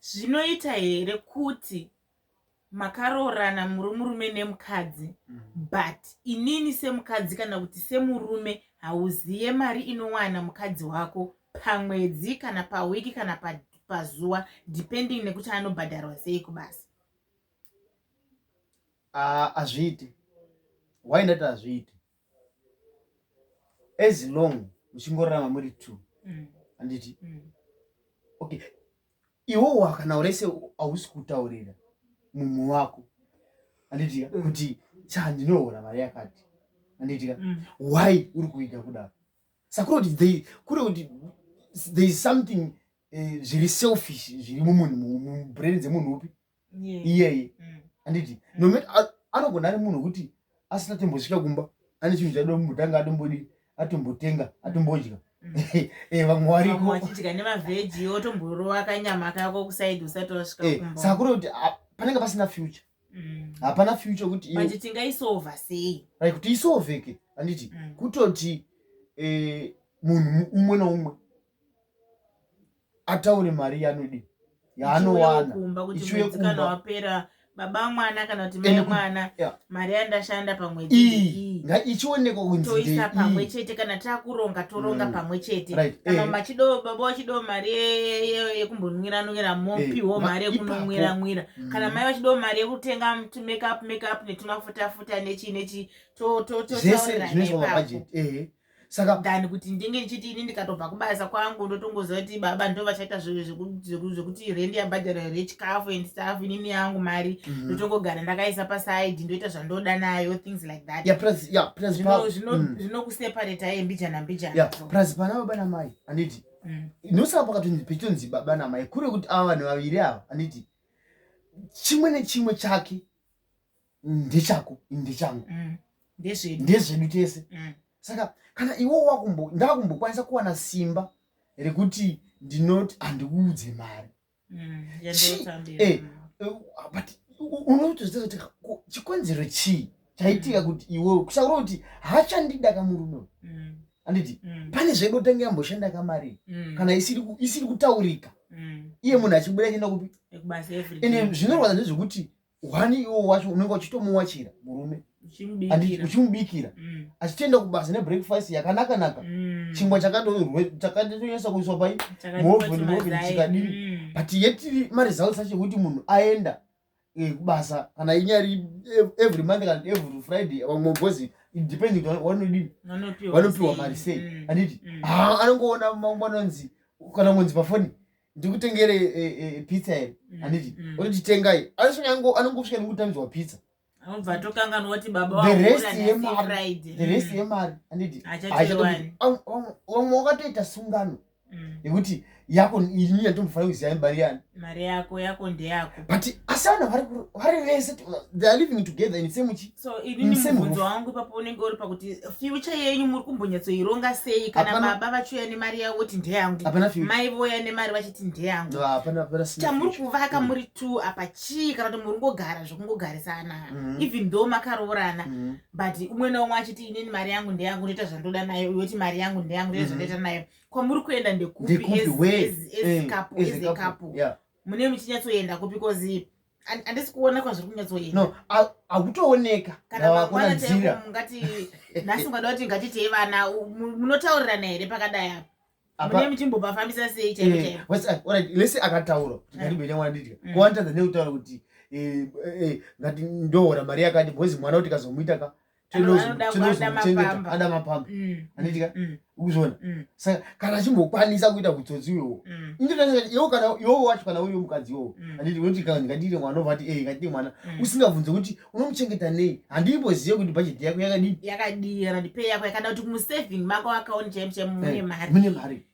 Zvinoita here kuti makaroorana muri murume nemukadzi mm. but inini semukadzi kana kuti semurume hauziye mari inowana mukadzi wako pamwedzi kana pawiki kana pazuva pa depending nekuti anobhadharwa sei kubasa hazviiti ah, uh, why ndati hazviiti as long muchingorarama muri two mm. handiti mm. okay iwowo kana urese hausi kutaurira mumwe wako handitika mm. kuti cha ndinohora mari yakati handitika why uri kuita kudaro sakura kuti kure kuti there is something eh, zviri selfish zviri mumunhu mubrain dzemunhu upi iyeye mm. anditi mm. nomet anogona ari munhu wekuti asina tombosvika kumba ane chinhu chadombotanga atombodii atombotenga mm. atombodya eh, vamwe warikoachidya nemavheji otomborova kanyama kako kusaidi usati wasvika eh, kumba saka kuri kuti panenge pasina future hapana future kuti manje tingaisova sei right kuti isoveke anditi kutoti eh, munhu umwe noumwe ataure mari yanodi yaanowana kumba kuti Ichiuya mwedzi kana kumba. wapera baba mwana kana kuti mai Ende ku- mwana yeah. mari yandashanda pamwedzi iyi iyi nga ichionekwa kunzi toisa pamwe ndeiyi chete kana takuronga toronga Mm. pamwe chete Right. kana Eh. machido baba wachido mari ye- ye- yekumbonwira nwira Eh, mopiwo ma- mari yekunonwira ipapo. nwira Mm. kana mai vachido mari yekutenga tu makeup makeup netumafuta futa nechi nechi to to to zvese taurira zvinoiswa nepapo. mabhajeti ehe saka than kuti ndinge ndichiti ini ndikatobva kubasa kwangu ndotongoziva kuti baba ndo vachaita zvekuti rendi yabhadhara here chikafu and staff inini yangu mari mhm. ndotongogara ndakaisa paside ndoita zvandoda nayo things like thatzvinokuseparata mm. ye mbijana mbijana plus pana baba namai anditi mm. nosaka pakatonzi pechitonzi baba namai kure kuti ava vanhu vaviri ava anditi chimwe nechimwe chake ndechako ndechangu mm. ndezvedu tese mm. saka kana iwo wakumbo ndakumbokwanisa kuwana simba rekuti ndinoti handikuudze mari mm, eh, mm. eh, but unotozoti chikonzero chii chaitika mm. kuti iwe kusaura kuti hachandida kamurume mm. anditi mm. pane zvedu tenge amboshanda kamari mm. kana isiri kutaurika mm. iye munhu achibuda chienda kupi ende zvinorwadza ndezvekuti hwani iwo wacho unenge uchitomuwachira murume uchimubikira mm. achitoenda kubasa nebreakfast yakanaka naka mm. chingwa chakatonyasa kuiswa pai muhoveni chikadii mm. but yet maresults acho ekuti munhu aenda eh, kubasa kana inyari eh, every month kana every friday vamwe bhozi depending wanodii vanopiwa mari sei anditi ah, anongoona mangu anonzi kana ngonzi pafoni ndikutengere eh, eh, pizza here mm, anditi mm. oti titengai anosvika anongosvika nekutanzwa pizza anobvatokanganwatibabaaerest yemari anditi vamwe wakatoita sungano mm. yekuti yako ini yatombofana kuziva mari yani mari yako yako ndeyako but asi vanhu vari vese theyare living together in same chi so inini mubvunzo wangu ipapo unenge uri pakuti future yenyu muri kumbonyatsoironga sei kana baba vachiuya nemari yavo voti ndeyangu mai vouya nemari vachiti ndeyangu chamuri kuvaka mm. muri two apa chii kana kuti muri ngogara zvekungogarisana mm. even though makaroorana mm. but umwe naumwe achiti inini mari yangu ndeyangu ndoita zvandoda nayo uyoti mari yangu ndeyangu ndoita zvandoita nayo kwamuri kuenda ndekupi as eh, a couple mune muchinyatsoenda kupi bcause And- handisi kuona kwazviri kunyatsoenda no a- hakutooneka kana Ndava kuona mangwana nzira. chaipo mungati nhasi ungada kuti ngatitei vana u- mu- munotaurirana here pakadai apa Apa- mune muchimbobafambisa sei chaipo Eh, chaipo what's that? Alright, let's say akataura kuti Eh. ndandibenya mwana ndidya Mm. kuwantadza nekutaura kuti eh, eh, ngati ndohora mari yakati bhozi mwana kuti kazomuita ka tinoada mapamba mm. anoitika mm. ukuzviona mm. saka kana achimbokwanisa kuita kutsotsi iwowo iwo kana iwowo wacho kana uyo mukadzi iwowo anditi unoti kana ndikadire mwana ovati e eh, ngadire mwana usingabvunze kuti unomuchengeta nei handimbozive kuti bhajeti yako yakadii yakadii randipe yako yakada kuti musaving mako akaoni chaimchemune eh, mari mune mari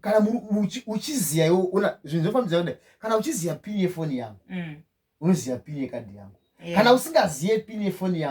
kana uchiziva iwo ona zvinhu zvofambisa kudai kana uchiziva pini yefoni yangu mm. unoziva pini yekadhi yangu kana usingazive pini yefoni yangu